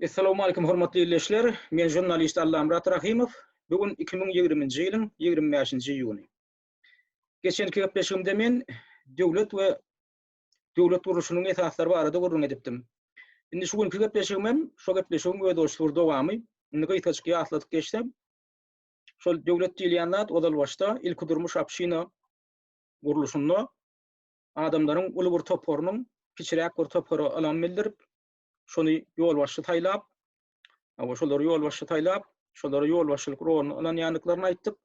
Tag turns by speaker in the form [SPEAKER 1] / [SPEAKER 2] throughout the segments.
[SPEAKER 1] Essalowmalikim hormatly ildeşler, men žurnalist Allamyrat Rahymow, bu gün iki müň ýigrimi nji ýylyň ýigrimi bäşinji iýuny. Geçenki gepleşigimde men döwlet we döwlet gurluşynyň esaslary barada gürrüň edipdim. Indi şu günki gepleşigim hem şo gepleşigiň özboluşly bir dowamy. Indi gysgajyk ýatladyp geçsem, şol döwlet diýilýän zat ozal başda ilkidurmuş obşina gurluşynda adamlaryň uly bir toparynyň kiçiräk bir topara ynam bildirip, şony ýolbaşçy saýlap, hawa, şolary ýolbaşçy saýlap, şolara ýolbaşçylyk roluny ynanýandyklaryny aýtdyk.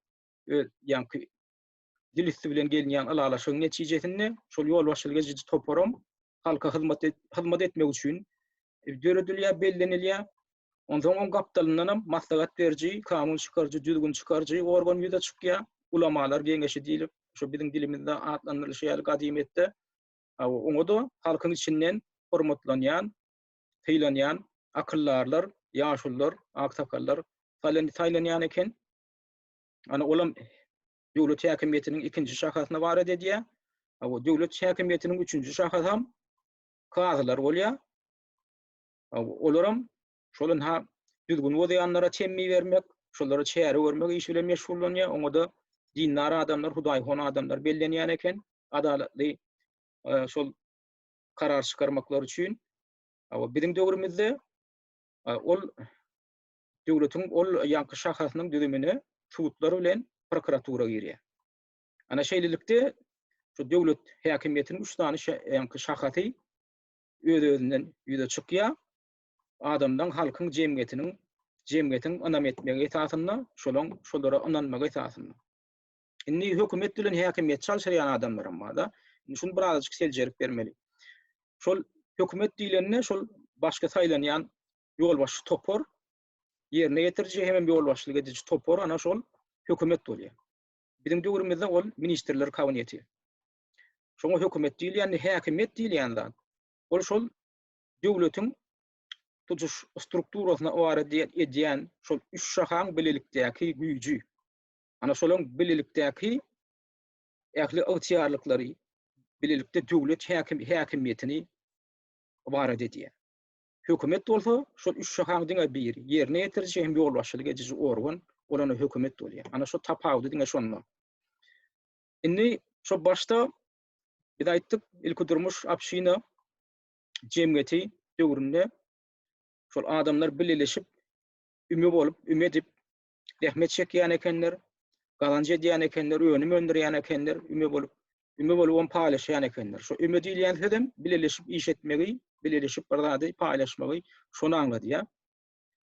[SPEAKER 1] Öz, ýaňky dil üsti bilen gelinýän ylalaşygyň netijesinde şol ýolbaşçylyk ediji toparam halka hyzmat hyzmat etmek üçin döredilýär, bellenilýär. Onsoň oň gapdalyndan hem maslahat beriji, kanun çykaryjy, düzgün çykaryjy organ ýüze çykýar. Ulamalar geňeşi diýlip, şu biziň dilimizde atlandyrylyşy ýaly gadymyýetde oňa-da halkyň içinden hormatlanýan, sylanýan akyldarlar, ýaşulular, aksakallar saýlanýan eken. Ana olam döwlet häkimiýetiniň ikinji şahasyna waret edýär. Döwlet häkimiýetiniň üçünji şahasy hem kazylar bolýar. Olaram şol ynha düzgün bozýanlara çemmi bermek, şolara çäre görmek işi bilen meşgullanýar. Oňa-da dindar adamlar, hudaýhon adamlar bellenýän eken. Adalatly şol karar çykarmaklary üçin. Hawa, biziň döwrümizde ol döwletiň ol ýaňky şahasynyň düzümine sudlar bilen prokuratura girýär. Ana şeýlelikde şu döwlet häkimiýetiniň üç sany şahasy öz-özünden ýüze çykýar. Adamdan halkyň jemgyýetiniň jemgyýetiň ynam etmegi esasynda, şolaň şolara ynanmagy esasynda. Indi hökümet bilen häkimiýet çalşyrýan adamlaram barda. Şuny birazajyk seljerip bermeli. Şol hökümet diýlende şol başga saýlanýan ýolbaşçy topar, ýerine ýetiriji hem ýolbaşçylyk ediji topar ana şol hökümet bolýar. Biziň döwrümizde ol ministrler kabineti. Şoňa hökümet diýilýände häkimiýet diýilýän zat. Ol şol döwletiň tutuş strukturasyna bar edýän şol üç şahaň bilelikdäki güýji. Ana şolaryň bilelikdäki ähli ygtyýarlyklary, bilelikde döwlet häkimiýetini ibarat edýär. Hökümet bolsa, şol üç şahaň diňe biri, ýerine ýetiriji hem ýolbaşçylyk ediji organ, ol ony hökümet bolýar. Ana şo tapawudy diňe şonda. Indi şo başda biz aýtdyk, ilki durmuş obşina jemgyýeti döwründe şol adamlar bileleşip, üme bolup, üme edip, zähmet çekýän ekenler, gazanç edýän ekenler, önüm öndürýän ekenler, üme bolup, üme bolup ony paýlaşýan ekenler. Şu üme diýilýän söz hem bileleşip iş etmegi, bileleşip bir zady paýlaşmagy şony aňladýar.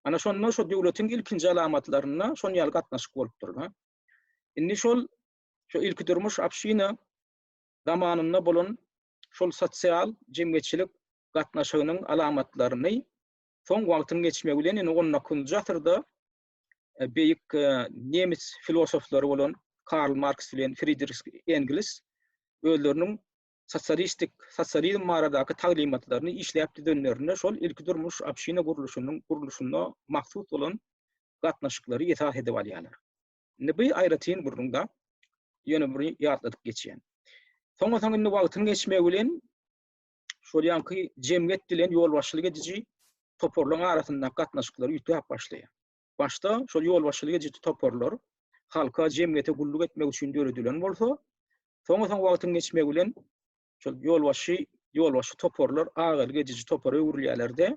[SPEAKER 1] Ana şonda şu döwletiň ilkinji alamatlarynda şon ýaly gatnaşyk bolupdyr. Indi şol şu ilki durmuş abşina zamanynda bolan şol sosial jemgyýetçilik gatnaşygynyň alamatlaryny Soň wagtyň geçmegi bilen indi on dokuzynjy asyrda beýik nemes filosoflary bolan Karl Marks bilen Fridrih Engels özleriniň sosialistik sosializm baradaky taglymatlaryny işläp düzenlerinde şol ilki durmuş obşina gurluşynyň gurluşyna mahsus bolan gatnaşyklary esas edip alýarlar. Indi bu aýratyn gürrüňde ýöne bir ýatladyp geçýän. Soňa soň indi wagtyň geçmegi bilen şol ýanky jemgyýet bilen ýolbaşçylyk ediji toparlaryň arasyndaky gatnaşyklar üýtgäp başlaýar. Başda şol ýolbaşçylyk ediji toparlar halka, jemgyýete gulluk etmek üçin döredilen bolsa, soň-soň wagtyň geçmegi bilen şol ýolbaşçy ýolbaşçy toparlar agalyk ediji topara öwrülýärler-de,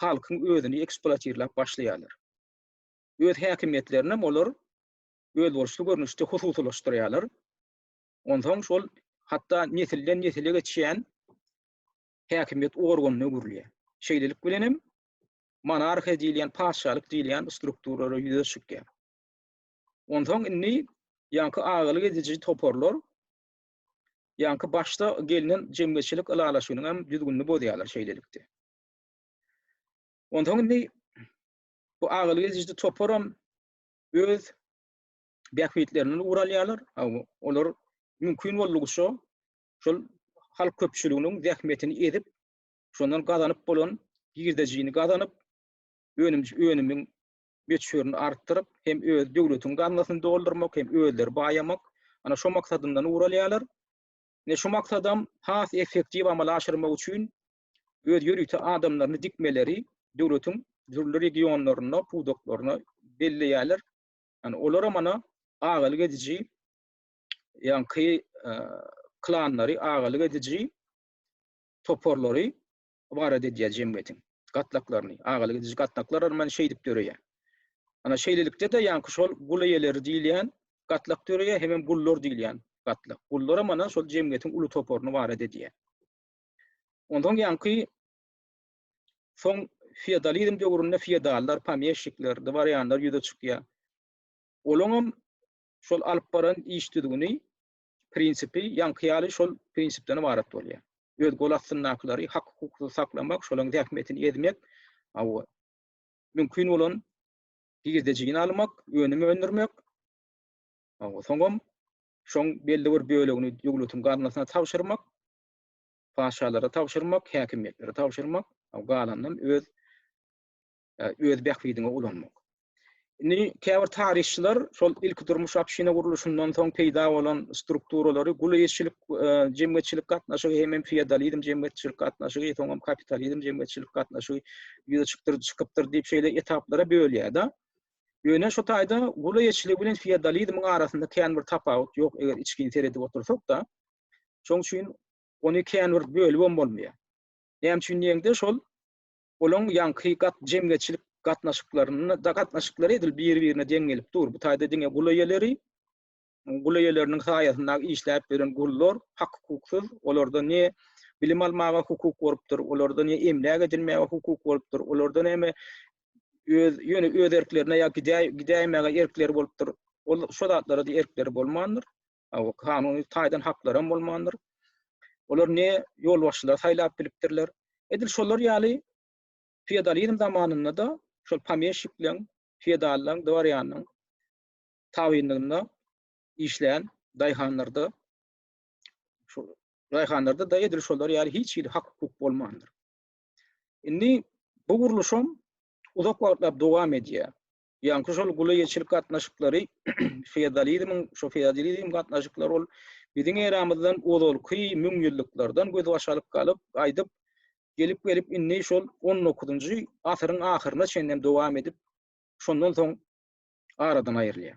[SPEAKER 1] halkyň özüni eksploatirläp başlaýarlar. Öz häkimiýetlerini hem olar özboluşly görnüşde hususylaşdyrýarlar. Onsoň şol hatda nesilden nesile geçýän häkimiýet organyna öwrülýär. Şeýlelik bilen hem monarhiýa diýilýän, patyşalyk diýilýän strukturalra ýüze çykýar. Onsoň indi ýaňky agalyk ediji toparlar ýaňky başda gelnen jemgyýetçilik ylalaşygynyň hem düzgünini bozýarlar şeýlelikde. Onsoň indi bu agalyk ediji toparam öz bähbitlerinden ugur alýarlar. Olar mümkin boldugyça şol halk köpçüliginiň zähmetini edip, şondan gazanyp bolan girdejini gazanyp, önüm-önümiň möçberini artdyryp, hem öz döwletiň gaznasyny doldurmak, hem özleri baýamak, ana şo maksadyndan ugur alýarlar. Ine şu maksadam has effektiw amala aşyrmak üçin öz ýörite adamlaryny dikmeleri döwletiň dürli regionlaryna, pudaklaryna belleýärler. Yani olara mana agalyk ediji ýaňky klanlary agalyk ediji toparlary ibarat edýär jemgyýetiň gatlaklaryny. Agalyk ediji gatlaklar mana şeýdip döreýär. Ana şeýlelikde de ýaňky şol gul eýeleri diýilýän gatlak döreýär, hem hem gullar diýilýän gatlak. Gullara mana şol jemgyýetiň uly toparyny ibarat edýär. Ondan ýaňky Soň feodalizm döwründe feodallar, pomeşşikler, dworýanlar ýüze çykýar. Olaňam şol alyp baran iş düzgüni, prinsipi ýaňky ýaly şol prinsipden ybarat bolýar. Öz gol astyndakylary hak-hukuksyz saklamak, şolaň zähmetini ezmek, hawa, mümkin bolan girdejini almak, önüm öndürmek, hawa, soňam şoň belli bir bölegini döwletiň gaznasyna tabşyrmak, patyşalara tabşyrmak, häkimiýetlere tabşyrmak, galanynam öz öz bähbidiňe ulanmak. Indi käbir taryhçylar şol ilki durmuş obşina gurluşyndan soň peýda bolan strukturalary gulýeçilik e, jemgyýetçilik gatnaşygy hem feodalizm jemgyýetçilik gatnaşygy, soňam kapitalizm jemgyýetçilik gatnaşygy ýüze çykdyr çykypdyr diýip şeýle etaplara bölýär-de. Ýöne şu taýda gulýeçilik bilen feodalizmiň arasynda kän bir tapawut ýok, eger içgin seredip otursak-da, Şoň üçin ony kän bir bölübem bolmaýar. Näme üçin diýeňde şol olaň ýaňky gat jemgyýetçilik gatnaşyklarynda da gatnaşyklary edil biri-birine deň gelip dur. Bu taýda diňe gul eýeleri, gul eýeleriniň saýasynda işläp ýören gullar hak-hukuksyz, olarda ne bilim almaga hukuk bolupdyr, olarda ne emläk edinmäge hukuk bolupdyr, olarda näme öz ýöne öz erklerine ýa gidäýmäge erkleri bolupdyr. Ol şo zatlara-da erkleri bolmandyr. kanuny taýdan haklary hem bolmandyr. Olar ne ýolbaşçylary saýlap bilipdirler. Edil şolar ýaly feodalizm zamanynda-da şol pomeşikleň, feodallaň, dworýanyň tabynlygynda işleýän daýhanlarda şu daýhanlarda-da edil şolar ýaly hiç hili hak-hukuk bolmandyr. Indi bu gurluşam uzak wagtlap dowam edýär. Ýaňky şol gula-ýeçilik gatnaşyklary feodalizmiň, şo feodalizm gatnaşyklary ol biziň eramyzdan ozalky müňýyllyklardan gözbaş alyp galyp, gaýdyp, gelip-gelip indi şol on dokuzynjy asyryň ahyryna çenli hem dowam edip, şondan soň aradan aýrylýar.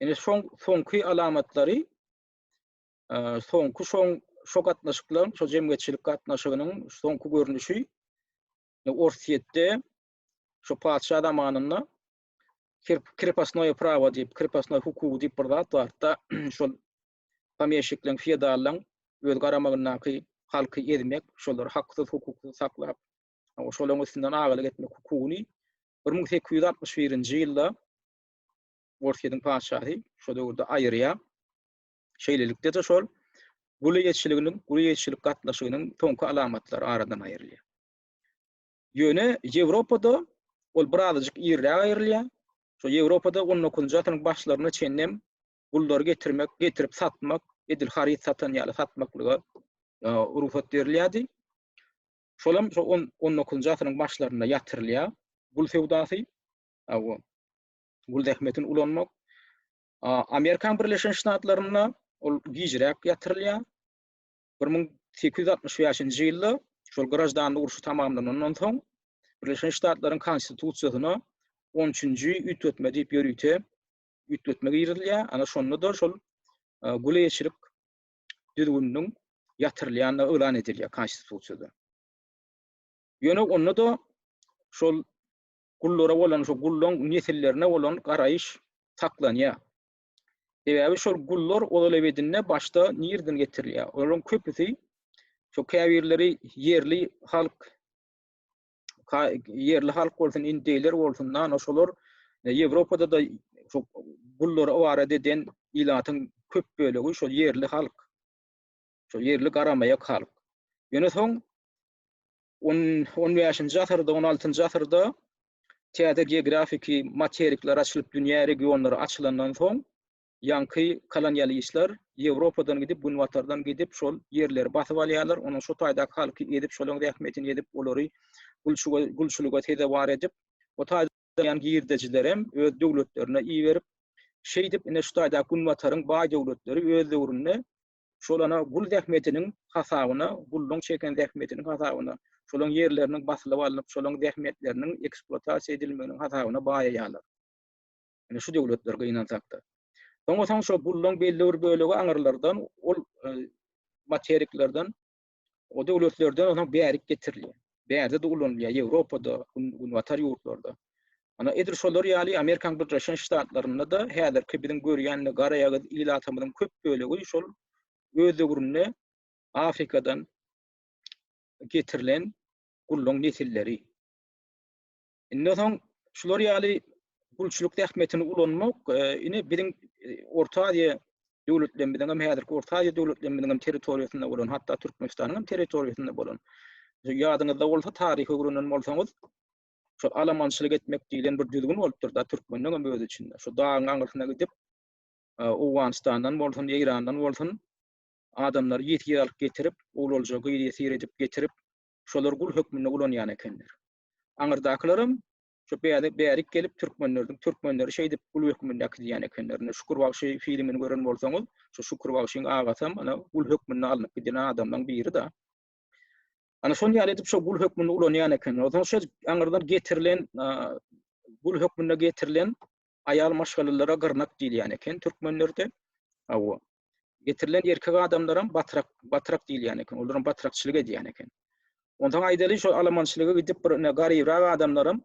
[SPEAKER 1] Indi şoň soňky alamatlary, soňky şoň şo gatnaşyklaryň, şo jemgyýetçilik gatnaşygynyň soňky görnüşi Orsýetde Şu patyşa zamanynda krepostnoýe prawo diýip, krepostnoý hukugy diýip bir zat bardy-da, şol pomýeşikleň, feodallaň öz garamagyndaky halky ezmek, şolary haksyz, hukuksuz saklap, şolaryň üstünden agalyk etmek hukugyny bir müň sekiz ýüz altmyş birinji ýylda Orsýetiň patyşasy şo döwürde aýyrýar. Şeýlelikde-de şol gul eýeçiliginiň, gul eýeçilik gatnaşygynyň soňky alamatlary aradan aýrylýar. Ýöne Ýewropada ol birazajyk irräk aýrylýar. Şo Ýewropada on dokuzynjy asyryň başlaryna çenlem gullary getirmek, getirip satmak, edil haryt satan ýaly satmaklyga rugsat berilýärdi. Şolam şo on on dokuzynjy asyryň başlarynda ýatyrylýar. Gul söwdasy, aw, gul zähmetini ulanmak. Amerikan Birleşen Ştatlarynda ol gijräk ýatyrylýar. Bir müň sekiz ýüz altmyş bäşinji ýylda, şol graždanlyk urşy tamamlanandan soň, Birleşen Ştatlaryň Konstitusiýasyna on üçünji üýtgetme diýip ýörite üýtgetme girizilýär. Ana şonda-da şol guleçilik düzgüniniň ýatyrylýandygy yglan edilýär Konstitusiýada. Ýöne onda-da şol gullara bolan, şol gullaň nesillerine bolan garaýyş saklanýar. Sebäbi şol gullar ozal ebedinde başda nireden getirilýär? Olaryň köpüsi şu käbirleri ýerli halk ýerli halk bolsun, indeýler bolsun, nano şolar e, Ýewropada da şu gullary ibarat eden ilatyň köp bölegi şol ýerli halk. Şo ýerli garamaýak halk. Ýöne soň on on bäşinji asyrda, on altynjy asyrda täze geografiki materikler açylyp, dünýä regionlary açylandan soň, ýaňky kolonialistler Ýewropadan gidip, günbatardan gidip, şol ýerleri basyp alýarlar, onuň şo taýdaky halky ezip, şolaryň zähmetini ezip, olary gulçuga gulçulyga sezewar edip, o taýda ýan girdejilerem öz döwletlerine iberip, şeýdip, ine şu taýdaky günbataryň baý döwletleri öz döwründe Şol ana gul zähmetiniň hasabyna, gulluň çeken zähmetiniň hasabyna, şolaň ýerleriniň basylyp alnyp, şolaň zähmetleriniň ekspluatasiýa edilmeginiň hasabyna baýaýarlar. Ine şu döwletler gynansakda. Soňa soň şo gulluň belli bir bölegi aňyrlardan, ol materiklerden O döwletlerden onuň bärik getirilýär. Bärde-de ulanylýar, Ýewropada, günbatar ýurtlarda. Ana, edil şolar ýaly Amerikanyň Birleşen Ştatlarynda-da häzirki biziň görýän garaýagyz ilatymyzyň köp bölegi şol öz döwründe Afrikadan getirilen gulluň nesilleri. Indi soň şular ýaly gulçulyk zähmetini ulanmak e, ine biziň e, Orta Aziýa döwletlerimiziň hem häzirki Orta Aziýa döwletlerimiziň hem territoriýasynda bolan, hatda Türkmenistanyň hem territoriýasynda bolan. Ýadyňyzda bolsa, taryhy öwrenen bolsaňyz, şu alamançylyk etmek diýlen bir düzgün bolupdyr da türkmeniň hem özi içinde. Şu dagyň aňyrsyna gidip, e, Owganystandan bolsun, Eýrandan bolsun, adamlary ýesir alyp getirip, owlalja gyz ýesir edip getirip, şolar gul hökmünde ulanýan ekenler. Aňyrdakylaram şu bäde bärik gelip türkmenlerdiň türkmenleri şeýdip gul hökmünde äkidýän ekenler. Indi Şükür bagşy filmini gören bolsaňyz, şu Şükür bagşyň agasam ana gul hökmünde alnyp gidýän adamlaryň biri-de. Ana şol ýaly edip şu gul hökmünde ulanýan ekenler. Onsoň şu aňyrdan getirilen gul hökmünde getirilen aýal maşgalalara gyrnak diýilýän eken türkmenlerde. Awa. Getirilen erkek adamlaram batrak, batrak diýilýän eken. Olaram batrakçylyk edýän eken. Ondan aýdaly şol alamançylyga gidip bir ine garybrak adamlaram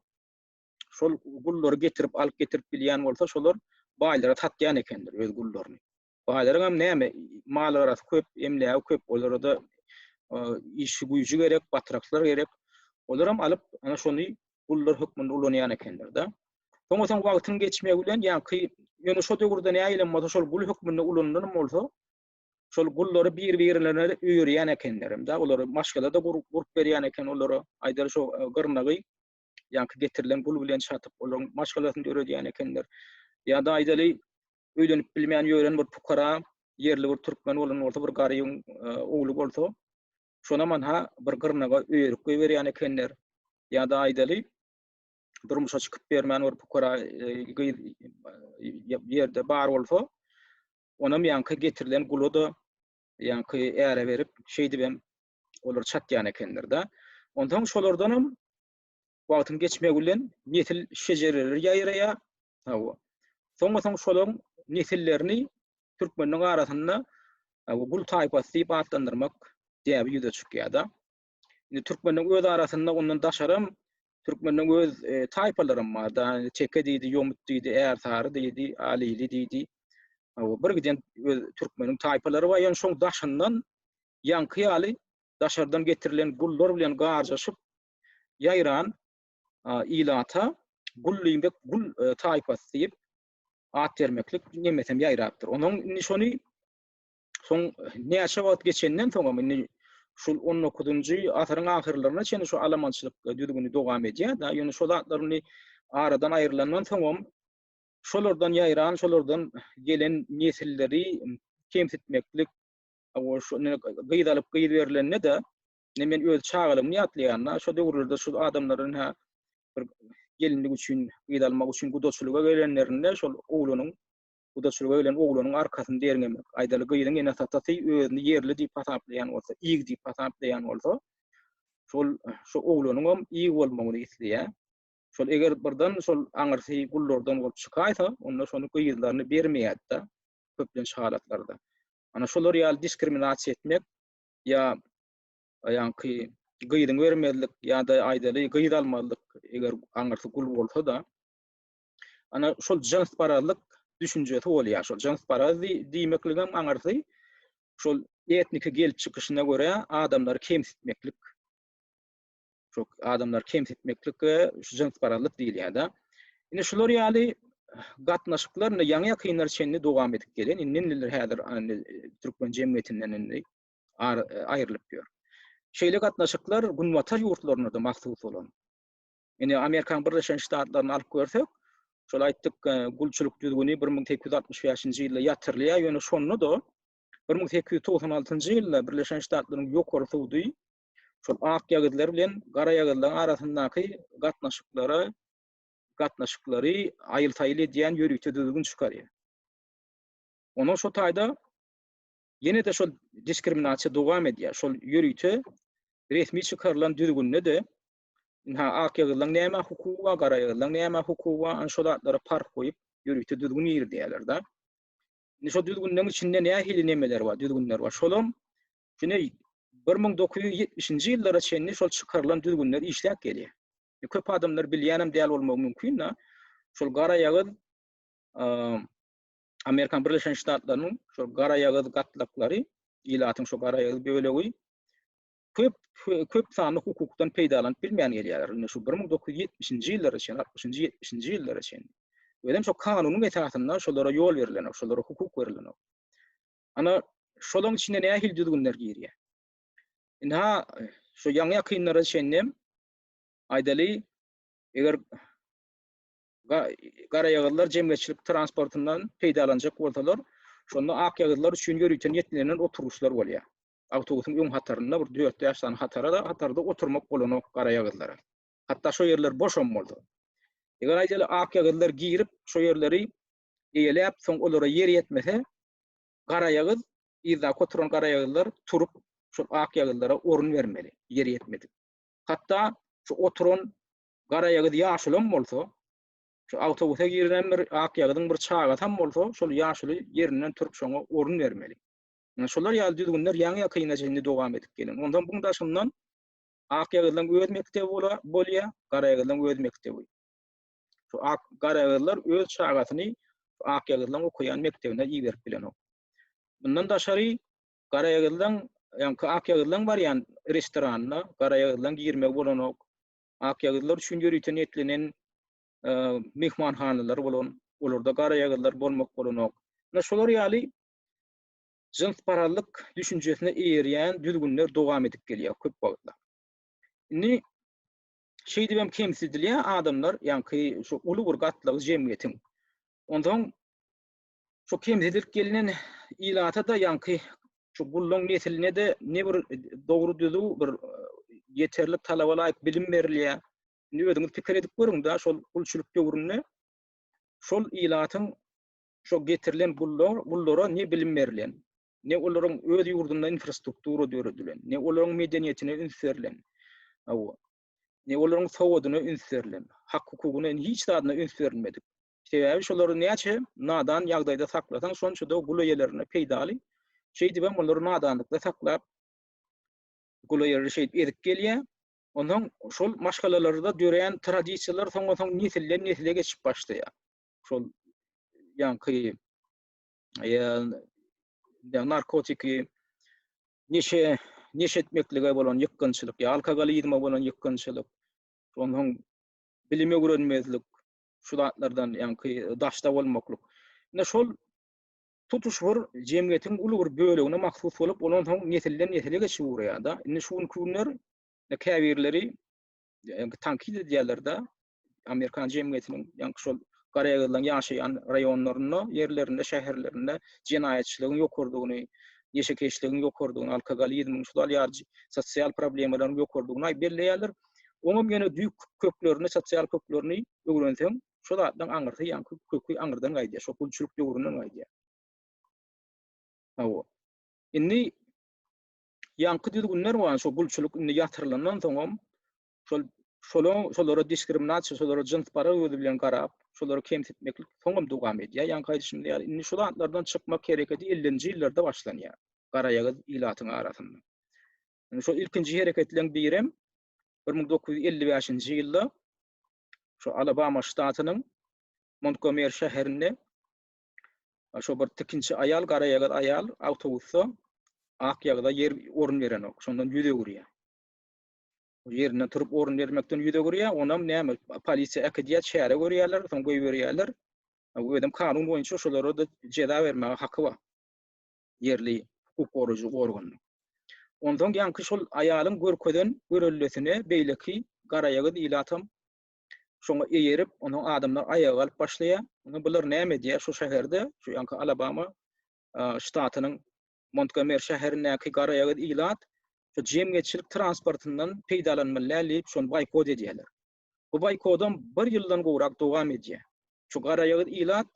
[SPEAKER 1] şol gullary getirip alyp getirip bilýän bolsa şolar baýlara satýan ekenler öz gullaryny. Baýlaryňam näme maly garasy köp, emlägi köp, olarda işi güýji gerek, batraklar gerek. Olaram alyp ana şony gullar hökmünde ulanýan ekenler-de. Soňra soň wagtyň geçmegi bilen, ýaňky ýöne şo döwürde nägilem bolsa şol gul hökmünde ulanylan bolsa, şol gullary bir-birlerine öýerýän ekenler hem-de, olary maşgala-da gurup berýän eken olara, aýdaly şo e, gyrnagy ýaňky getirilen gul bilen çatyp, olaryň maşgalasyny döredýän ekenler. Ýa-da aýdaly öýlenip bilmän ýören bir pukara ýerli bir türkmen bolan bolsa, bir garybyň e, ogly bolsa, Şonaman-ha bir gyrnaga öýerip goýberýän ekenler. Ýa-da aýdaly, durmuşa çykyp bermän bir pukara gyz ýerde bar bolsa, onam ýaňky getirilen gula-da ýaňky äre berip, şeýdibem olar çatýan ekenler-de. Onsoň şolardanam Wagtyň geçmegi bilen nesil şejereleri ýaýraýar. Hawa. Soňa-soň şolaryň nesillerini türkmenleriň arasynda gul taýpasy diýip atlandyrmak däbi ýüze çykýar-da. Indi türkmenleriň öz arasynda ondan daşaram türkmenleriň öz e, taýpalaram bar-da. Çeke diýdi, ýomut diýdi, ärsary diýdi, alili diýdi. Hawa, bir giden öz türkmeniň taýpalary bar. Ýöne şoň daşyndan ýaňky ýaly daşardan getirilen gullar bilen garjaşyp ýaýran ilata Gullymbek gul taýpasy diýip at bermeklik nemesem ýaýrapdyr. Onuň indi şony soň näçe wagt geçenden soňam indi şul 19-njy asyryň ahyrlaryna çenli şu alamançylyk düzgüni dowam edýär da. Ýöne şol zatlaryny aradan aýrylandan soňam şolardan ýaýran, şolardan gelen nesilleri kemsitmeklik, gyz alyp gyz berlende-de Ine men öz çagalygymny ýatlaýanda, şo döwürlerde şul adamlaryň hä bir gelinlik üçin, gyz almak üçin gudaçylyga gelenlerinde şol oglanyň gudaçylyga gelen oglanyň arkasyny derňemek. Aýdaly gyzyň enesatasy özüni ýerli diýip hasaplaýan bolsa, ýig diýip hasaplaýan bolsa, şol şo oglanyňam ýig bolmagyny isleýär. Şol eger birden şol aňyrsy gullardan bolup çykaýsa, onda şony gyzlaryny bermeýärdi-de köplenç halatlarda. Ana şolar ýaly diskriminasiýa etmek, ýa ýaňky gyzyňy bermezlik ýa-da aýdaly gyz almazlyk eger aňyrsy gul bolsa-da ana şol jyns parazlyk düşünjesi bolýar. Şol jyns paraz diýmekligem aňyrsy şol etniki gelip çykyşyna görä adamlary kemsitmeklik Şu adamlar kemsitmeklik we şu jyns parazlyk diýilýär-de. Indi şular ýaly gatnaşyklar indi ýaňy ýakynlar çenli dowam edip gelen, indi indiler häzir indi türkmen jemgyýetinden indi aýrylyp ýör. Şeýle gatnaşyklar günbatar ýurtlarynda-da mahsus bolan. Indi Amerikanyň Birleşen Ştatlaryny alyp görsek, şol aýtdyk e, gulçulyk düzgüni 1865-nji ýylda ýatyrylýar, ýöne şonda-da 1896-njy ýylda Birleşen Ştatlaryň ýokary sudy şol akýagyzlar bilen garaýagyzlaryň arasyndaky gatnaşyklara gatnaşyklary aýyl-saýyl edýän ýörite düzgün çykarýar. Onuň şu taýda ýene-de şol diskriminasiýa dowam edýär. Şol ýörite resmi çykarylan düzgünde de ha akýagyzlaryň näme hukugy bar, garaýagyzlaryň näme hukugy bar, ana şol atlara parh goýup ýörite düzgün girdýärler-de. Indi şol düzgünleriň içinde nähili nemeler bar, düzgünler bar. Şolam Şonda bir müň dokuz ýüz ýetmişinji ýyllara çenli şol çykarylan düzgünler işläp gelýär. Köp adamlar bilýänem däl bolmagy mümkin, da. Şol garaýagyz Amerikan Birleşen Ştatlarynyň şol garaýagyz gatlaklary, ilatyň şol garaýagyz bölegi köp köp sanly hukukdan peýdalanyp bilmän gelýärler. Indi şu 1970-nji ýyllara çenli, 60-njy, 70-nji ýyllara çenli. Özem şu kanunyň esasynda şolara ýol berilenok, şolara hukuk berilenok. Ana, şolaň içine nähili düzgünler girýär? Indi ha, şu ýaňy-ýakynlara çenlem, aýdaly, eger garaýagyzlar jemgyýetçilik transportyndan peýdalanjak bolsalar, şonda akýagyzlar üçin ýörite niýetlenen oturgyçlar bolýar. Awtobusyň öň hatarynda bir dört-bäş sany hatara-da, hatarda oturmak bolanok garaýagyzlara. Hatda şo ýerler boşam bolsa. Eger aýdaly, akýagyzlar girip, şo ýerleri eýeläp, soň olara ýer ýetmese, garaýagyz, yzdaky oturan garaýagyzlar turup, şol akýagyzlara orun bermeli, ýer ýetmedik. Hatda şu oturan garaýagyz ýaşulam bolsa, şu awtobusa giren bir akýagyzyň bir çagasam bolsa, şol ýaşuly ýerinden turup, şoňa orun bermeli. Ine, şolar ýaly düzgünler ýaňy-ýakynda çenli dowam edip gelýär. Onsoň buň daşyndan akýagyzlaryň öz mekdebi bolýar, garaýagyzlaryň öz mekdebi. Şu ak garagyzlar öz çagasyny Akýagyzlaň okaýan mekdebine iberip bilenok. Mundan daşary Garaýagyzlaň, ýaňky Akýagyzlaň barýan restoranyna Garaýagyzlaň girmegi bolanok. Akýagyzlar üçin ýörite niýetlenen e, myhmanhanalary bolan, olarda Garaýagyzlar bolmak bolanok. Ine şolar ýaly jynsparazlyk düşünjesine eýerýän düzgünler dowam edip gelýär köp wagtlar. Indi şeýdip hem kemsidilýän adamlar, ýaňky şu uly bir gatlagy jemgyýetiň. Onsoň şu kemsidilip gelnen ilata-da, ýaňky şu gulluň nesline-de ne bir dogry düzüw, bir ýeterlik talaba laýyk bilim berilýär. Indi özüňiz pikir edip görüň-dä, şol gulçulyk döwründe şol ilatyň, şo getirilen gullar, gullara ne bilim berilen? ne olaryň öz ýurdunda infrastruktura döredilen, ne olaryň medeniýetine üns berlen, hawa, ne olaryň sowadyna üns berlen, hak-hukugyna, hiç zadyna üns berilmedik. Sebäbi şolary näçe nadan ýagdaýda saklasaň, şonça-da gul eýelerine peýdaly. Şeýdip hem olary nadanlykda saklap, gul eýeleri şeýdip ezip gelýär. Onsoň şol maşgalalarda döreýän tradisiýalar soňa-soň nesilden-nesile geçip başlaýar. Şol ýaňky ýa narkotiki neşe neşe etmeklige bolan ýykgynçylyk ýa alkogolizme bolan ýykgynçylyk ondan bilim öwrenmezlik şu zatlardan ýaňky daşda bolmaklyk ine şol tutuş bir jemgyýetiň uly bir bölegine mahsus bolup ondan soň nesilden nesile geçip urýar-da indi şu günki günler käbirleri tankit edýärler-de amerikan jemgyýetiniň ýaňky şol garaýagyzlaryň ýaşaýan raýonlarynda, ýerlerinde, şäherlerinde jenaýatçylygyň ýokarydygyny, ýeşekeşligiň ýokarydygyny, alkogolizmiň, şular ýaly sosial problemalaryň ýokarydygyny aýyp belleýärler. Oňam ýöne düýk köklerini, sosial köklerini öwrenseň, şol zatlaryň aňyrsy ýaňky köki aňyrdan gaýdýar, şol gulçulyk döwründen gaýdýar. Hawa. Indi ýaňky düzgünler bolan şol gulçulyk indi ýatyrylandan soňam Şol şolaň şolara diskriminasiýa, şolara jyns para gözi bilen garap, şolary kemsitmeklik soňam dowam edýär. Ýaňky aýdyşymda ýaly, indi şol atlardan çykmak hereketi ellinji ýyllarda başlanýar, garaýagyz ilatyň arasynda. Indi şol ilkinji hereketleriň birem bir müň dokuz ýüz elli bäşinji ýylda şu Alabama ştatynyň Montgomery şäherinde şu bir tikinçi aýal, garaýagyz aýal awtobusda ak ýagyza ýer orun berenok, şondan ýüz öwürýär. ýerinden turup orun bermekden ýüz öwürýär, onam näme polisiýa äkidýär, çäre görýärler, soň goýberýärler. Özem kanun boýunça şolara-da jeza bermäge haky bar. Ýerli hukuk goraýjy organyň. Onsoň ýaňky şol aýalyň görkezen görellesine beýleki garaýagyz ilatam şoňa eýerip, onuň adamlar aýaga galyp başlaýar. Indi bular näme edýär şu şäherde, şu ýaňky Alabama ştatynyň Montgomery şäherindäki garaýagyz ilat şu jemgyýetçilik transportyndan peýdalanmalylar diýip şony boýkot edýärler. Bu boýkodam bir ýyldan gowrak dowam edýär. Şu garaýagyz ilat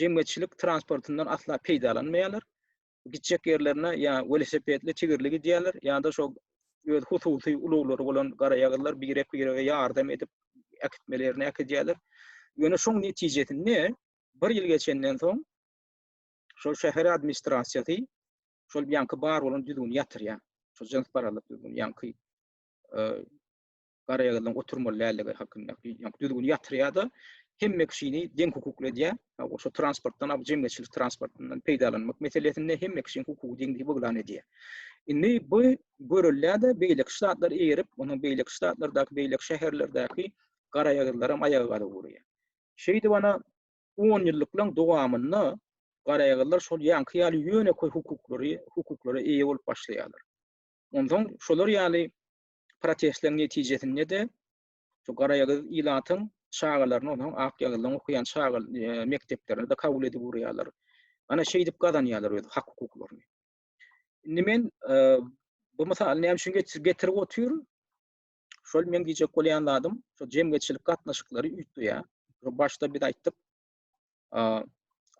[SPEAKER 1] jemgyýetçilik transportyndan asla peýdalanmaýarlar. Gitjek ýerlerine ýa welosipedli, tigirli gidýärler, ýa-da şo öz hususy ulaglary bolan garaýagyzlar birek-birege ýardam edip äkitmeli ýerine äkidýärler. Ýöne şoň netijesinde bir ýyl geçenden soň şol şäher administrasiýasy şol ýaňky bar bolan düzgüni ýatyrýar. Şol jyns barallyk düzgüni ýaňky e, garaýagyzlaryň oturmaly däldigi hakynda ýaňky düzgüni ýatyrýar-da, hemme kişini deň hukukly edýär. Şo transportdan, bu jemgyýetçilik transportyndan peýdalanmak meselesinde hemme kişiniň hukugy deňdigi buglan edýär. Indi bu görülýär-de, beýleki ştatlar eýerip, onuň beýleki ştatlardaky, beýleki şäherlerdäki garaýagyzlaram aýaga galyp urýar. Şeýdip, ana, onýyllyklaryň dowamynda garaýagyzlar şol ýaňky ýaly ýönekeý hukuklary hukuklara eýe bolup başlaýarlar. Onsoň şolar ýaly protestleriň netijesinde-de şu garaýagyz ilatyň çagalaryny onsoň akýagyzlaryň okaýan çaga e, mekdeplerine-de kabul edip urýarlar. Ana şeýdip gazanýarlar öz hak hukuklaryny. Indi men e, bu mysaly näme üçin getirip otyr? Şol meň diýjek bolýan zadym, şu jemgyýetçilik gatnaşyklary üýtgeýär. Başda biz aýtdyk,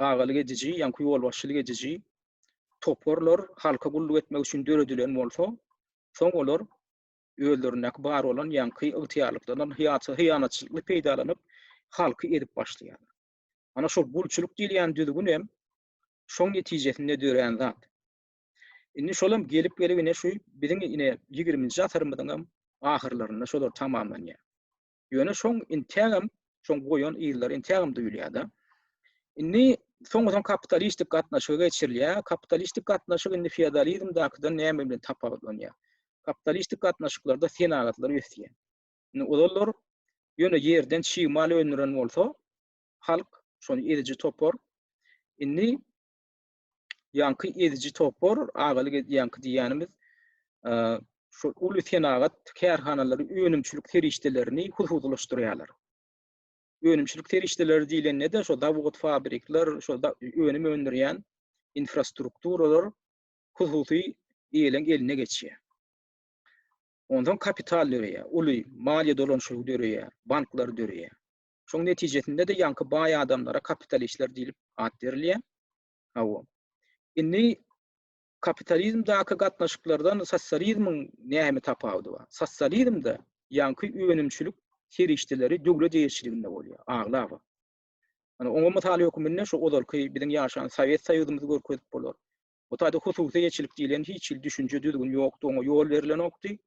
[SPEAKER 1] agalyk ediji, ýaňky ýolbaşçylyk ediji toparlar halka gulluk etmek üçin döredilen bolsa, soň olar özlerindäki bar bolan ýaňky ygtyýarlyklaryndan hyýanatçylykly peýdalanyp, halky edip başlaýarlar. Ana şol gulçulyk diýilýän düzgün hem şoň netijesinde dörän zat. Indi şolam gelip gelip ine şu biziň ine ýigriminji asyrymyzyňam ahyrlarynda şolar tamamlanýar. Ýöne şoň intägem şoň goýan yzlary intägem duýulýar-da. Indi soňuzan kapitalistik gatnaşyga geçirilýär. Kapitalistik gatnaşyk indi feodalizmdakydan näme bilen tapawutlanýar? Kapitalistik gatnaşyklarda senagatlar ösýär. Indi olar ýöne ýerden çig mal öndüren bolsa, halk, şony ediji topar, indi ýaňky ediji topar, agalyk edýänki diýýänimiz, şu uly senagat kärhanalary önümçilik serişdelerini hususylaşdyrýarlar. Önümçilik serişdeleri diýlende-de şu zawod, fabrikler, şu önüm öndürýän infrastrukturalar hususy ýeliň eline geçýär. Ondan kapital döreýär, uly maliýe dolanşygy döreýär, banklar döreýär. Şoň netijesinde-de ýaňky baý adamlara kapitalistler diýlip at berilýär. Hawa. Indi kapitalizmdäki gatnaşyklardan sosializmiň näme tapawudy bar? Sosializmde ýaňky önümçilik serişdeleri döwlet eýeçiliginde bolýar, aglaba. Ýöne oňa mysal höküminde şu ozalky biziň ýaşan Sowet Soýuzymyzy görkezip bolar. Bu taýda hususy eýeçilik diýlen hiç hili düşünje, düzgün ýokdy, oňa ýol berilenokdy.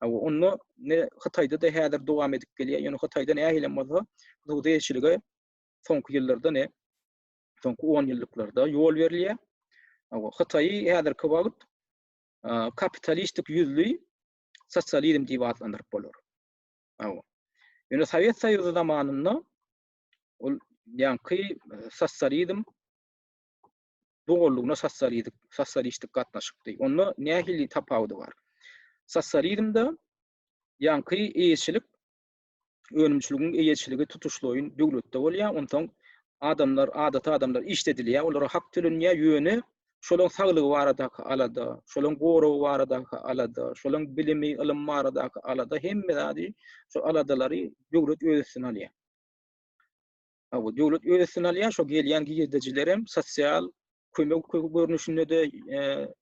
[SPEAKER 1] Hawa, onda ne Hytaýda-da häzir dowam edip gelýär, ýöne Hytaýda nähilem bolsa hususy eýeçilige soňky ýyllarda, ne soňky onýyllyklarda ýol berilýär. Hawa, Hytaýy häzirki wagt kapitalistik ýüzli sosializm diýip atlandyryp bolar. Hawa. Ýöne Sowet Soýuzy zamanynda ol ýaňky sosializm bu gollugyna sosializik, sosialistik gatnaşykdy. Onda nähili tapawudy bar? Sosializmde ýaňky eýeçilik önümçiligiň eýeçiligi tutuşlaýyn döwletde bolýar. Onsoň adamlar, adaty adamlar işledilýär, olara hak tölenýär, ýöne şolaryň saglygy baradaky alada, şolaryň goragy baradaky alada, şolaryň bilimi, ylym baradaky alada hemme zady, şol aladalary döwlet öz üstüne alýar. Bu döwlet öz üstüne alýar, şo gelýän girdejilerem sosial kömek görnüşinde-de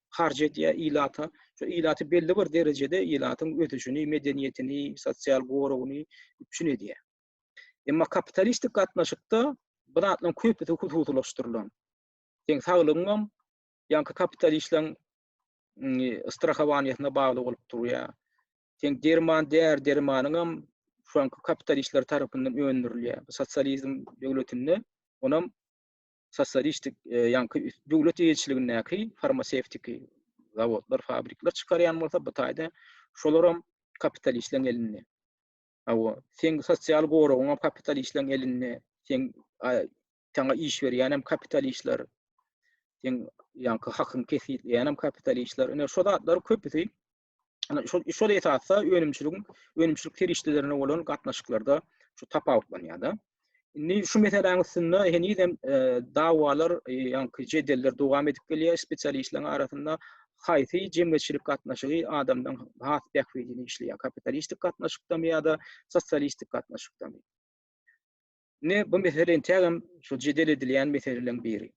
[SPEAKER 1] harç edýär ilata. Şu ilaty belli bir derejede ilatyň ösüşini, medeniýetini, sosial goragyny üpjün edýär. Emma kapitalistik gatnaşykda bu zatlaryň köpüsi hususylaşdyrylan. Seň saglygyňam ýaňky kapitalistleriň strahowaniýasyna bagly bolup durýar. Seň derman däri dermanyňam şu anky kapitalistler tarapyndan öndürilýär. Bu sosializm döwletinde onam sosialistik e, ýaňky döwlet eýeçiligindäki farmasewtiki zawodlar, fabrikler çykarýan bolsa bu taýda şolaram kapitalistleriň elinde. Awa, seň sosial goragyň hem kapitalistleriň elinde, seň sana iş berýän hem kapitalistler, seň ýaňky hakyň kesgitleýän hem kapitalistler. Ine şu zatlar köpüsi Şol şol esasda önümçiligiň önümçilik serişdelerine bolan gatnaşyklarda şu tapawutlanýar-da. Indi şu meseläň üstünde heniz hem e, dawalar, e, ýa-da jedeller dowam edip gelýär spesialistleriň arasynda. Haýsy jemgyýetçilik gatnaşygy adamdan has bähbidini işleýär? Kapitalistik gatnaşykdamy ýa-da sosialistik gatnaşykdamy? Ne bu mesele entägem şu jedel edilýän meseleleriň biri.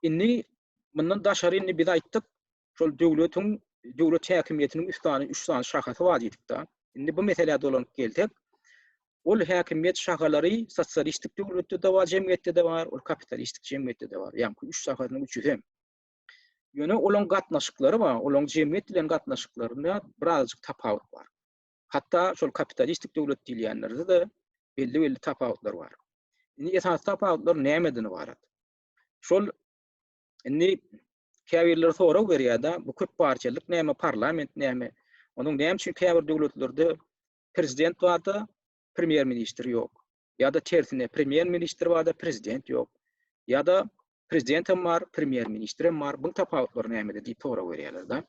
[SPEAKER 1] Indi mundan daşary indi biz aýtdyk, şol döwletiň döwlet häkimiýetiniň üç sany üç sany şahasy bar diýdikde. Indi bu meselä dolanyp gelsek, ol häkimiýet şahalary sosialistik döwletde de bar, jemgyýetde de bar, ol kapitalistik jemgyýetde de bar. Ýa-ni üç şahasynyň üçüsi hem. Ýöne olaryň gatnaşyklary bar, olaryň jemgyýet bilen gatnaşyklarynda birazajyk tapawut bar. Hatda şol kapitalistik döwlet diýilýänlerde de belli-belli tapawutlar bar. Indi esasy tapawutlar nämeden ybarat? Şol Indi käbirleri sorag berýärdi, bu köp partiýalyk näme, parlament näme? Onuň näme üçin käbir döwletlerde prezident barda, premýer ministr ýok? Ýa-da tersine, premýer ministr barda, prezident ýok? Ýa-da prezident hem bar, premýer ministr hem bar, bu tapawutlar nämede diýip sorag berýärler-de.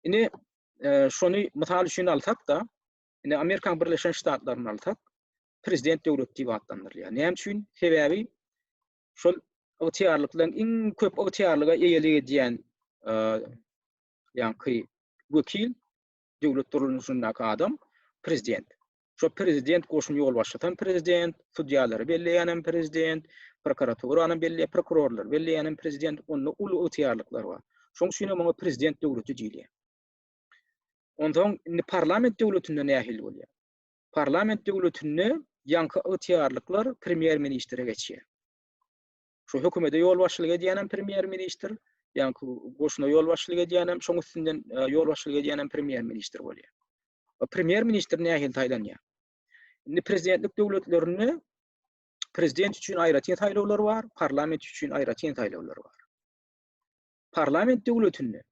[SPEAKER 1] Indi e, şony mysal üçin alsak-da, indi Amerikanyň Birleşen Ştatlaryny alsak, prezident döwlet diýip atlandyrylýar. Näme üçin? Sebäbi şol ygtyýarlyklaryň iň köp ygtyýarlyga eýelik edýän ýaňky wekil döwlet durluşyndaky adam prezident. Şo prezident goşun ýolbaşçysam prezident, sudýalary belleýänem prezident, prokuraturany belleýän prokurorlar belleýänem prezident, onda uly ygtyýarlyklar bar. Şoň üçin hem oňa prezident döwleti diýilýär. Onsoň indi parlament döwletinde nähili bolýar? Parlament döwletinde ýaňky ygtyýarlyklar premýer-ministre geçýär. Şu hökümete ýolbaşçylyk edýänem premýer-ministr, ýaňky goşuna ýolbaşçylyk edýänem, şoň üstünden e, ýolbaşçylyk edýänem premýer-ministr bolýar. E, premýer-ministr nähili saýlanýar? Indi prezidentlik döwletlerinde prezident üçin aýratyn saýlawlar bar, parlament üçin aýratyn saýlawlar bar. Parlament döwletinde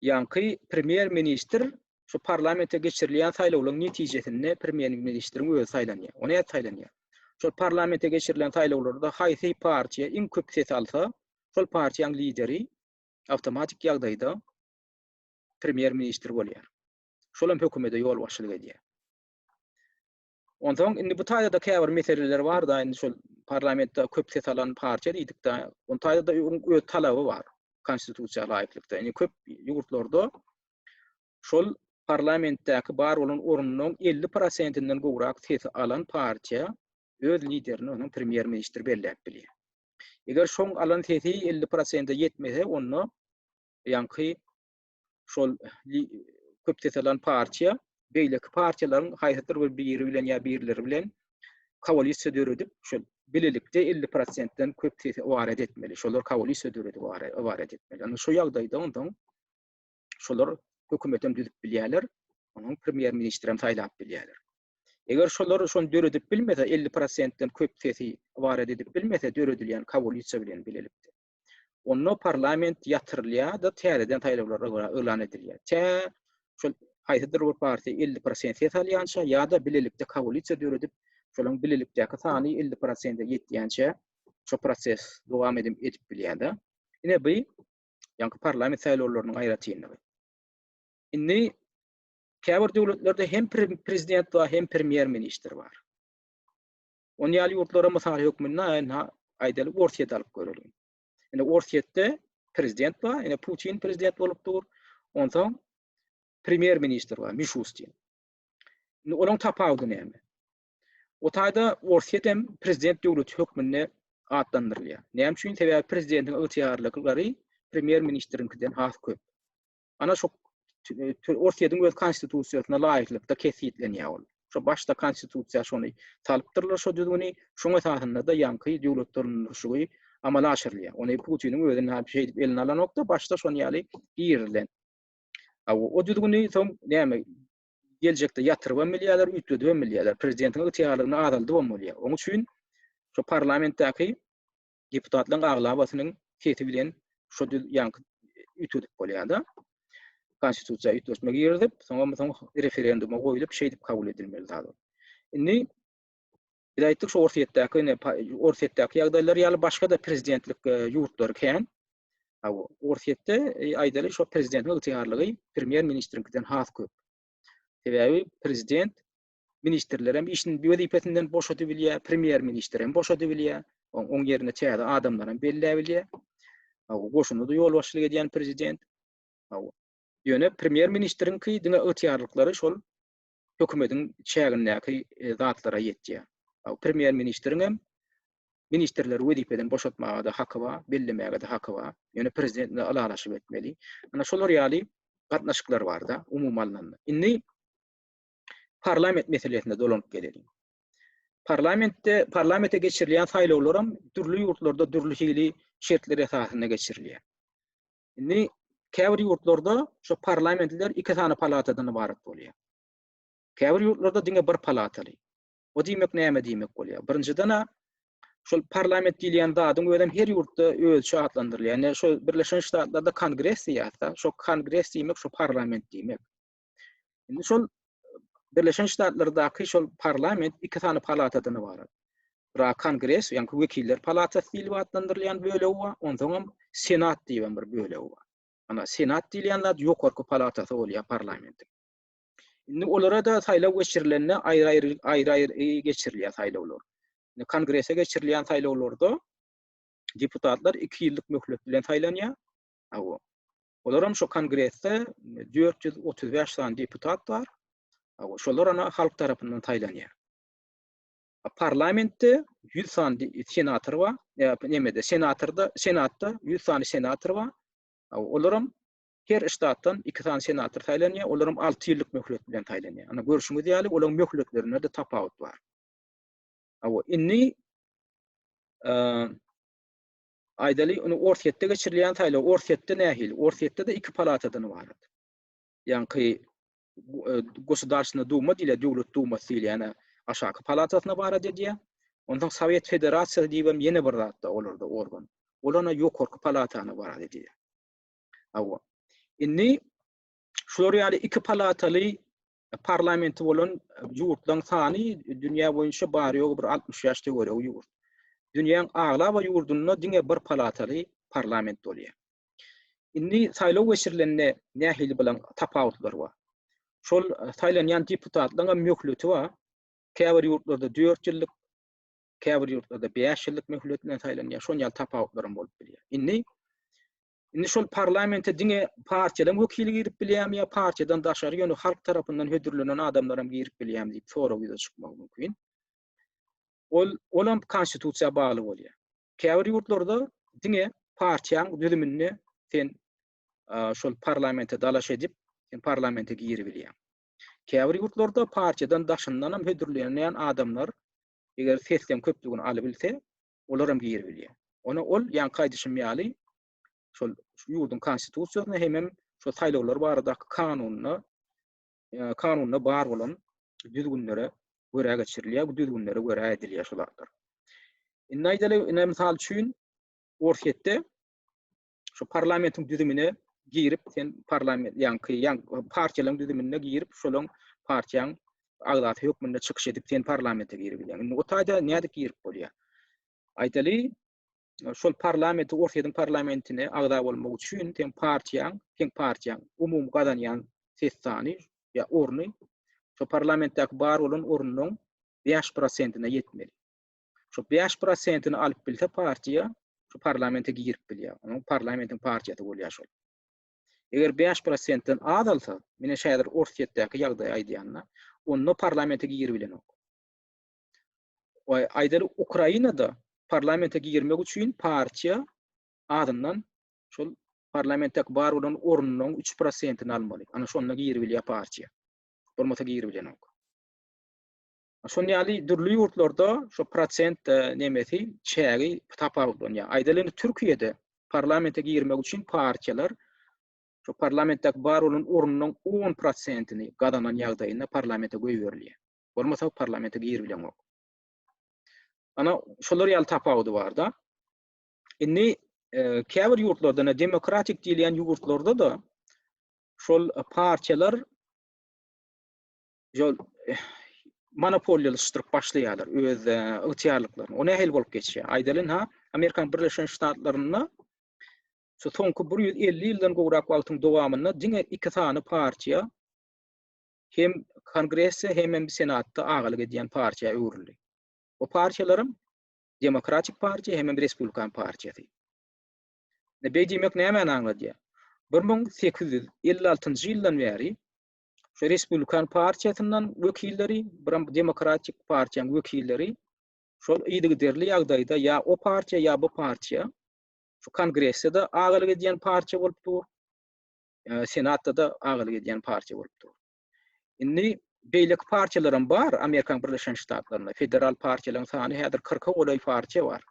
[SPEAKER 1] Ýaňky premýer-ministr şu parlamente geçirilýän saýlawlaryň netijesinde premýer-ministriň özi saýlanýar. O nädip saýlanýar? Şol parlamente geçirilen saýlawlarda haýsy partiýa iň köp ses alsa, şol partiýaň lideri awtomatik ýagdaýda premýer-ministr bolýar. Şol hem hökümete ýolbaşçylyk edýär. Onsoň indi bu taýda käbir meseleler bar-da, indi şol parlamentde köp ses alan partiýa diýdik-de, on taýda-da öz talaby bar Konstitusiýa laýyklykda. Indi köp ýurtlarda şol parlamentdäki bar bolan ornunyň elli prosentinden gowrak sesi alan partiýa öz liderini onuň premýer-ministr belläp bilýär. Eger şoň alan sesi elli prosente ýetmese, onda ýaňky şol köp ses alan partiýa beýleki partiýalaryň haýsydyr bir biri bilen ýa birleri bilen koalisiýa döredip, şol bilelikde 50 prosentden köp sesi ibaret etmeli. Şolar koalisiýa döredip ibaret etmeli. Ýani şu ýagdaýda ondan şolar hökümet hem düzüp bilýärler, onuň premýer ministr hem saýlap bilýärler. Eger şolar şonu döredip bilmese, 50 prosentden köp sesi ibaret edip bilmese, döredilýän koalisiýa bilen bilelikde. Onda parlament ýatyrylýar-da, täzeden saýlawlar yglan edilýär. Tä şol haýsydyr bir partiýa elli prosent ses alýança ýa-da bilelikde koalisiýa döredip, şolaryň bilelikdäki sany elli prosente ýetýänçä şu proses dowam edip bilýär-de. Ine bu ýaňky parlament saýlawlarynyň aýratynlygy. Indi käbir döwletlerde hem prezident bar, hem premýer-ministr bar. Ony ýaly ýurtlara mysal hökmünde aýdalyk Orsýeti alyp göreliň. Indi Orsýetde prezident bar, indi Putin prezident bolup dur. Onsoň premýer ministr bar, Mişustin. Indi olaryň tapawudy näme? O taýda Orsýet hem prezident döwleti hökmünde atlandyrylýar. Näme üçin? Sebäbi prezidentiň ygtyýarlyklary premýer ministriňkiden has köp. Ana şu Orsýetiň öz konstitusiýasyna laýyklykda kesgitlenýär ol. Şu başda konstitusiýa şony salypdyrlar şu düzgüni, şoň esasynda-da ýaňky döwlet dolandyryşygy amala aşyrylýar. Ony Putiniň özi näme bir şey edip eline alanokda, başda şon ýaly girilen. A o düzgüni soň näme geljekde ýatyryp hem bilýärler, üýtgedip hem bilýärler. Prezidentiň ygtyýarlygyny azaldyp hem bolýar. Oň üçin şu parlamentdäki deputatlaryň aglabasynyň sesi bilen şu düz ýaňky üýtgedip bolýar-da. Konstitusiýa üýtgeşme girizip, soňam soň referenduma goýlup, şeýdip kabul edilmeli zat. Indi biz aýtdyk şu Orsýetdäki, ine Orsýetdäki ýagdaýlar ýaly başga-da prezidentlik e, ýurtlary kän. Ha bu Orsýetde e, aýdaly şu prezidentiň ygtyýarlygy premýer-ministriňkiden has köp. Sebäbi prezident Ministrler hem işini wezipesinden boşadybilýär, premýer-ministr hem boşadybilýär. Oň ýerine täze adamlar hem belläbilýär. Hawa, goşuna-da ýolbaşçylyk edýän prezident. Hawa. Ýöne premýer-ministriňki diňe ygtyýarlyklary şol hökümetiň çägindäki zatlara ýetýär. Hawa, premýer-ministriň hem ministrleri wezipeden boşatmaga-da haky bar, bellemäge-de haky bar. Ýöne prezident bilen ylalaşyp etmeli. Ana, şolar ýaly gatnaşyklar bar-da, umumy alnanda. Indi parlament meselesine dolanyp geleliň. Parlamentde parlamente geçirilýän saýlawlar hem dürli ýurtlarda dürli hili şertler esasynda geçirilýär. Indi käbir ýurtlarda şu parlamentler iki sany palatadan ybarat bolýar. Käbir ýurtlarda diňe bir palataly. O diýmek näme diýmek bolýar? Birinjiden şol parlament diýilýän zadyň özem her ýurtda özçe atlandyrylýar. Ýani şu Birleşen Ştatlarda kongres diýýärdi. Şu kongres diýmek şu parlament diýmek. Indi şol Birleşen Ştatlardaky şol parlament iki sany palatadan ibarat. Ra kongres, ýa-ni wekiller palatasy diýlip atlandyrylýan bölegi bar, onsoň hem senat diýip bir bölegi bar. Ana senat diýilýän zat ýokarky palatasy bolýar parlamentiň. Indi olara da saýlaw geçirilende aýry-aýry aýry-aýry geçirilýär saýlawlar. Indi kongrese geçirilýän saýlawlarda deputatlar 2 ýyllyk möhlet bilen saýlanýar. Awa. Olaram şu kongresde dört ýüz otuz bäş sany deputat bar. Şolar ana halk tarapyndan saýlanýar. Parlamentde ýüz sany senator bar. Nämede senatorda, senatda ýüz sany senator bar. Olaram her ştatdan iki sany senator saýlanýar. Olaram alty ýyllyk möhlet bilen saýlanýar. Ana görşüňiz ýaly, olaryň möhletlerinde-de tapawut bar. Indi Aýdaly, indi Orsýetde geçirilýän saýlaw Orsýetde nähili? Orsýetde-de iki palatadan ybarat. Ýaňky Gosudarstwna Duma diýilýär, Döwlet Dumasy diýilýän aşaky palatasyny ybarat edýär. Onsoň Sowet Federasiýasy diýip hem ýene bir zat-da olarda organ. Ol ýene ýokarky palatany ybarat edýär. Hawa. Indi şular ýaly iki palataly parlamenti bolan ýurtlaryň sany dünýä boýunça bary-ýogy bir altmyş bäş töweregi ýurt. Dünýäň aglaba ýurdunda diňe bir palataly parlament bolýar. Indi saýlaw geçirilende nähili bilen tapawutlar bar? Şol saýlanýan deputatlaryň hem möhleti bar. Käbir ýurtlarda dört ýyllyk, käbir ýurtlarda bäş ýyllyk möhlet bilen saýlanýar. Şonuň ýaly tapawutlar hem bolup bilýär. Indi Indi şol parlamente diňe partiýalaryň wekili girip bilýärmi ýa partiýadan daşary ýöne halk tarapyndan hödürlenen adamlar hem girip bilýärmi diýip sorag ýüze çykmagy mümkin. Ol ol hem konstitusiýa bagly bolýar. Käbir ýurtlarda diňe partiýaň düzüminde sen şol parlamente dalaş edip, sen parlamente girip bilýär. Käbir ýurtlarda partiýadan daşyndan hem hödürlenýän adamlar eger sesleň köplügini alyp bilse, olaram giribilýär. Ony ol, ýaňky aýdyşym ýaly, şol şu ýurduň Konstitusiýasyna hemem şol saýlawlar baradaky kanunyna, kanunda bar bolan düzgünlere görä geçirilýär, bu düzgünlere görä edilýär şu zatlar. Indi aýdaly, ine, mysal üçin, Orsýetde şu parlamentiň düzümine girip sen parlament ýaňky ýan partiýalaryň düzümine girip şolaň partiýaň agzasy hökmünde çykyş edip sen parlamente girip bilýän. Indi o taýda nädip girip bolýar? Aýdaly şol parlamenti Orsyýadyň parlamentine agza bolmak üçin sen partiýaň, sen partiýaň umumy gazanýan ses sany ýa orny şu parlamentdäki bar bolan ornuň 5%-ne ýetmeli. Şu bäş prosentini alyp bilse partiýa şu parlamente girip bilýär. Onuň parlamentiň partiýasy bolýar şol. Eger 5%-den az alsa, mine şädir Orsýetdäki ýagdaýy aýdýanda, onda parlamente girip bilenok. Oý, aýdaly Ukrainada parlamente girmek üçin partiýa azyndan şol parlamentdäki bar bolan ornunyň 3%-ni almaly. Ana şonda girip bilýär partiýa. Bolmasa girip bilenok. Şon ýaly dürli ýurtlarda şu prosent e, nemesi çägi tapawutlanýar. Aýdaly indi Türkiýede parlamente girmek üçin partiýalar şu parlamentdäki bar bolan ornunyň 10 prosentini gazanan ýagdaýynda parlamente goýberilýär. Bolmasa parlamente girip bilenok. Ana şolar ýaly tapawudy barda. Indi e, käbir ýurtlarda, demokratik diýilýän ýurtlarda da şol partiýalar şol monopoliýalaşdyryp başlaýarlar öz ygtyýarlyklaryny. O nähili bolup geçýär? Aýdalyň ha, Amerikanyň Birleşen Ştatlarynda şu soňky 150 ýyldan gowrak wagtyň dowamynda diňe iki sany partiýa hem Kongresse hem hem Senatda agalyk edýän partiýa öwrüldi. O partiýalaryň Demokratik partiýa hem hem Respublikan partiýasy. Beý diýmek nämäni aňladýar? 1856-njy ýyldan bäri şu Respublikan partiýasyndan wekilleri, biram Demokratik partiýanyň wekilleri şol yzygiderli ýagdaýda ýa o partiýa, ýa bu partiýa şu Kongressde-de agalyk edýän partiýa bolup dur, Senatda-da agalyk edýän partiýa bolup dur. Indi beýleki partiýalaram bar Amerikanyň Birleşen Ştatlarynda. Federal partiýalaryň sany häzir kyrka golaý partiýa bar.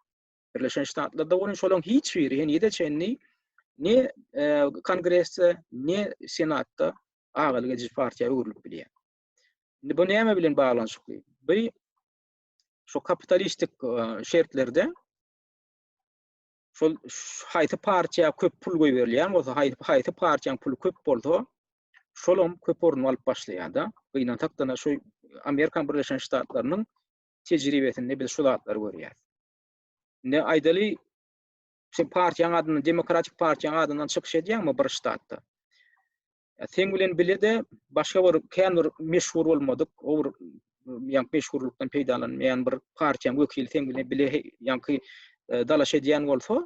[SPEAKER 1] Birleşen Ştatlarda bolan şolaryň hiç biri henize çenli ne e, kongresde, ne senatda agalyk edici partiýa öwrülip bilýär. Indi bu näme bilen baglanyşykly? Bu şu kapitalistik e, şertlerde şol haýsy partiýa köp pul goýberilýän bolsa, haýsy partiýaň puly köp bolsa, şolam köp orun alyp başlaýar-da. Gynansak da şu Amerikan Birleşen Ştatlarynyň tejribesinde biz şu zatlary görýäris. Indi aýdaly, sen partiýaň adyndan, Demokratik partiýaň adyndan çykyş edýäňmi bir ştatda? Sen bilen bile-de başga bir kän bir meşhur bolmadyk, o bir ýa meşhurlykdan peýdalanmaýan bir partiýaň wekili sen bilen bile ýaňky e, dalaş edýän bolsa,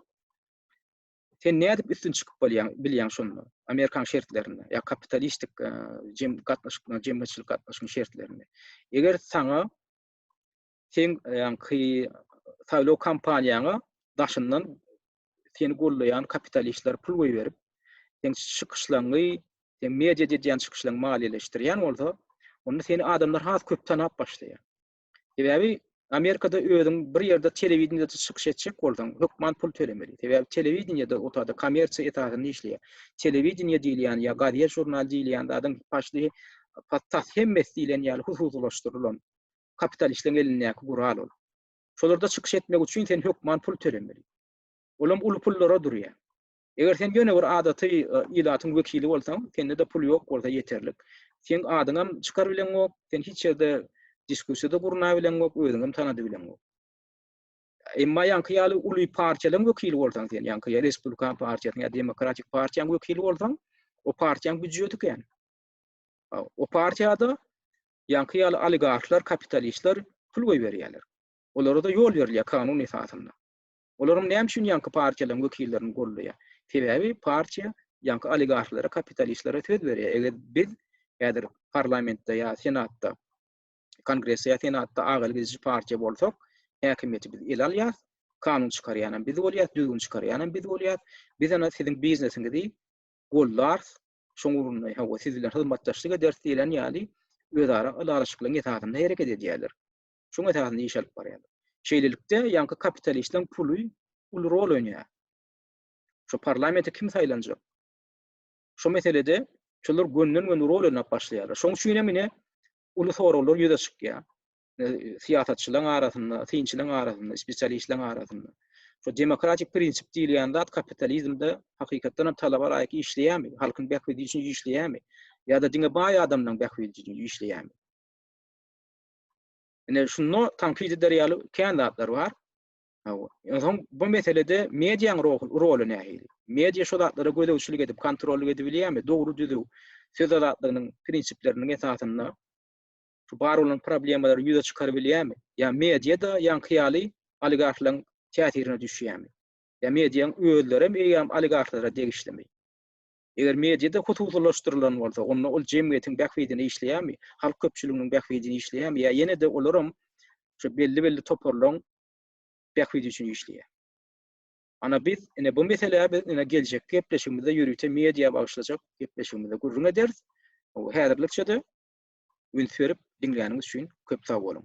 [SPEAKER 1] sen nädip üstün çykyp bolýaň, bilýäň şonda? Amerikan şertlerinde ýa kapitalistik e, jem gatnaşyklar, jemgyýetçilik gatnaşygyň şertlerinde. Eger saňa seň ýaňky saýlaw kampaniýaňa daşyndan seni goldaýan kapitalistler pul goýberip, seň çykyşlaňňy, seň mediada edýän çykyşlaňňy maliýeleşdirýän bolsa, onda seni adamlar has köp tanap başlaýar. Sebäbi Amerikada özüň bir ýerde telewideniýede çykyş etjek bolsaň, hökman pul tölemeli. Sebäbi telewideniýede otady kommersiýa esasynda işleýär. Telewideniýe diýilýän ýa gazet-žurnal diýilýän zadyň başly tas hemmesi diýlen ýaly hususylaşdyrylan kapitalistleriň elindäki gural ol. Şolarda çykyş etmek üçin sen hökman pul tölemeli. Olam uly pullara durýar. Eger sen ýöne bir adaty ilatyň wekili bolsaň, sende-de pul ýok bolsa ýeterlik. Seň adyňam çykar bileňok, sen hiç ýerde diskussiýa-da gurna bileňok, özüňem tanady bileňok. Emma ýaňky ýaly uly partiýalaryň wekili bolsaň sen, ýaňky ýaly Respublikan partiýasynyň ýa Demokratik partiýaň wekili bolsaň, o partiýaň býudjeti kän. O partiýada Ýaňky ýaly oligarhlar, kapitalistler pul goýberýärler. Olara-da ýol berilýär kanun esasynda. Olaram näme üçin ýaňky partiýalaryň wekillerini goldaýar? Sebäbi partiýa ýaňky oligarhlara, kapitalistlere söz berýär, eger biz häzir parlamentde ýa senatda, kongresde ýa senatda ak elgediji partiýa bolsak, häkimiýeti biz ele alýas, kanun çykarýanam biz bolýas, düzgün çykarýanam biz bolýas. Biz ana siziň biznesiňizi goldarys, şoň ugrunda hawa siz bilen hyzmatdaşlyk ederis diýlen ýaly özara ylalaşyklaryň esasynda hereket edýärler. Şoň esasynda iş alyp barýarlar. Şeýlelikde ýaňky kapitalistiň puly uly rol oýnaýar. Şu parlamente kim saýlanjak? Şu meselede şolar gönden-göni rol oýnap başlaýarlar. Şoň üçin hem ine uly soraglar ýüze çykýar. syýasatçylaryň arasynda, synçylaryň arasynda, spesialistleriň arasynda. Şu demokratik prinsip diýilýän zat kapitalizmde hakykatdan hem talaba laýyk işleýärmi? Halkyň bähbidi üçin işleýärmi? Ýa-da diňe baý adamlaryň bähbidi üçin işleýärmi? Ine şunda tankyt eder ýaly kän zatlar bar. Hawa. Ýöne bu meselede mediaň roly nähili? Media şu zatlara gözegçilik edip, kontrollyk edip bilýärmi? Dogry düzüw söz azatlygynyň prinsipleriniň esasynda şu bar bolan problemalary ýüze çykaryp bilýärmi? Ýa mediýa-da ýaňky ýaly oligarhlaryň täsirine düşýärmi? Ýa mediýaň özlerem eýýäm oligarhlara degişlimi? Eger mediýa-da hususylaşdyrylan bolsa, onda ol jemgyýetiň bähbidine işleýärmi? Halk köpçüliginiň bähbidine işleýärmi? Ýa ýene-de olaram şu belli-belli toparlaryň bähbidi üçin işleýär? Ana biz ine bu meselä biz ine geljekki gepleşigimizde ýörite mediýa bagyşlajak gepleşigimizde gürrüň ederis. Häzirlikçe-de Üns berip diňläniňiz üçin köp sag boluň!